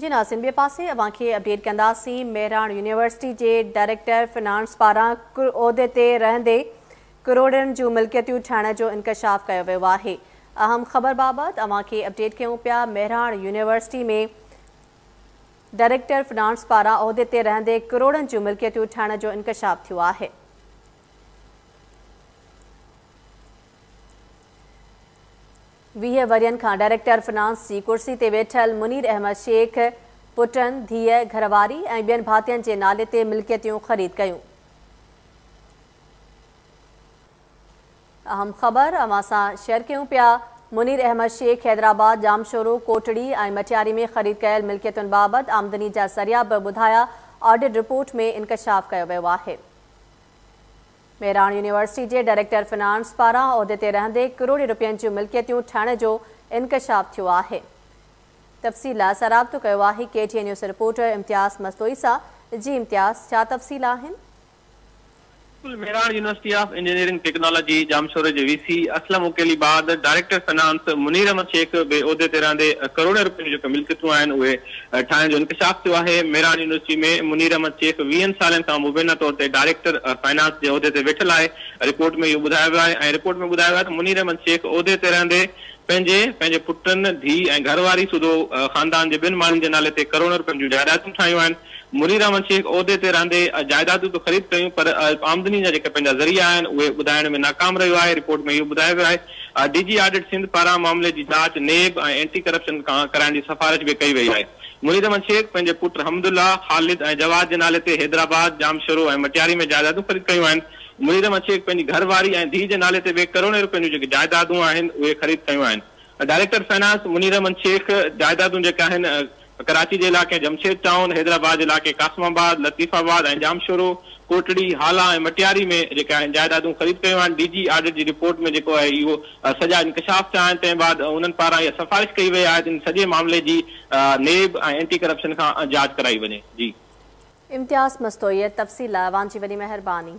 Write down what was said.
جي ناظم ٻئي پاسي اوهان کي اپڊيٽ ڪنداسين مهراڻ يونيورسٽي جي ڊائريڪٽر فنانس پاران عهدي تي رهندي ڪروڙين جون ملڪيتيون ٺاهڻ جو انڪشاف ڪيو ويو آهي اهم خبر بابت اوهان کي اپڊيٽ ڪيون پيا مهراڻ يونيورسٽي ۾ ڊائريڪٽر فنانس پاران عهدي تي رهندي ڪروڙين جون ملڪيتيون ٺاهڻ جو انڪشاف ٿيو آهي ويهه ورهين کان ڊائريڪٽر فنانس جي ڪرسي تي ويٺل منير احمد شيخ پٽن، ڌيء، گهرواري ۽ ٻين ڀاتين جي نالي تي ملڪيتيون خريد ڪيون. اهم خبر اوهان سان شيئر ڪيون پيا منير احمد شيخ حيدرآباد، ڄامشورو، ڪوٽڙي ۽ مٽياري ۾ خريد ڪيل ملڪيتن بابت آمدني جا ذريعا به ٻڌايا، آڊٽ رپورٽ ۾ انڪشاف ڪيو ويو آهي. ميراڻ يونيورسٽي جي ڊائريڪٽر فنانس پاران عهدي تي رهندي ڪروڙين رپين جون ملڪيتيون ٺاهڻ جو انڪشاف ٿيو آهي تفصيل لاء اسان رابطو ڪيو آهي K T N news reporter Imtiaz Mastoi سان جي امتياز ڇا تفصيل آهن. بلڪل Mehran university of engineering technology ڄامشوري جي وي سي اسلم اوڪيلي بعد ڊائريڪٽر فنانس منير احمد شيخ به عهدي تي رهندي ڪروڙين رپين جون جيڪي ملڪيتون آهن اهي ٺاهڻ جو انڪشاف ٿيو آهي، ميراڻ يونيورسٽي ۾ منير احمد شيخ ويهن سالن کان مبينا طور تي ڊائريڪٽر فنانس جي عهدي تي ويٺل آهي، رپورٽ ۾ اهو ٻڌايو ويو آهي ۽ رپورٽ ۾ ٻڌايو ويو آهي ته منير احمد شيخ عهدي تي رهندي پنهنجي، پنهنجي پٽن، ڌيء ۽ گهر واري سوڌو خاندان جي ٻين ماڻهن جي نالي تي ڪروڙين رپين جون جائدادون ٺاهيون آهن، منير احمد شيخ عهدي تي رهندي جائدادون ته خريد ڪيون پر آمدني جا جيڪي پنهنجا ذريعا آهن اهي ٻڌائڻ ۾ ناڪام رهيو آهي، رپورٽ ۾ اهو ٻڌايو ويو آهي. ڊي جي آڊٽ سنڌ پاران معاملي جي جاچ نيب ۽ اينٽي ڪرپشن کان ڪرائڻ جي سفارش به ڪئي وئي آهي. منير احمد شيخ پنهنجي پٽ حمدالله، خالد ۽ جواد جي نالي تي حيدرآباد، ڄامشورو ۽ مٽياري ۾ جائدادون خريد ڪيون آهن. منير احمد شيخ پنهنجي گهر واري ۽ ڌيء جي نالي تي به ڪروڙين روپين جون جيڪي جائدادون آهن اهي خريد ڪيون آهن. ڊائريڪٽر فنانس منير احمد شيخ جائدادون جيڪي آهن ڪراچي جي علائقي جمشيد ٽائون، حيدرآباد جي علائقي قاسم آباد، لطيف آباد ۽ ڄامشورو، ڪوٽڙي، هالا ۽ مٽياري ۾ جيڪي آهن جائيدادون خريد ڪيون آهن، ڊي جي آڊٽ جي رپورٽ ۾ جيڪو آهي اهو سڄا انڪشاف ٿيا آهن، تنهن بعد انهن پاران اها سفارش ڪئي وئي آهي ته ان سڄي معاملي جي نيب ۽ اينٽي ڪرپشن کان جاچ ڪرائي وڃي. جي. امتياز مستوئي تفصيل لاء اوهان جي وڏي مهرباني.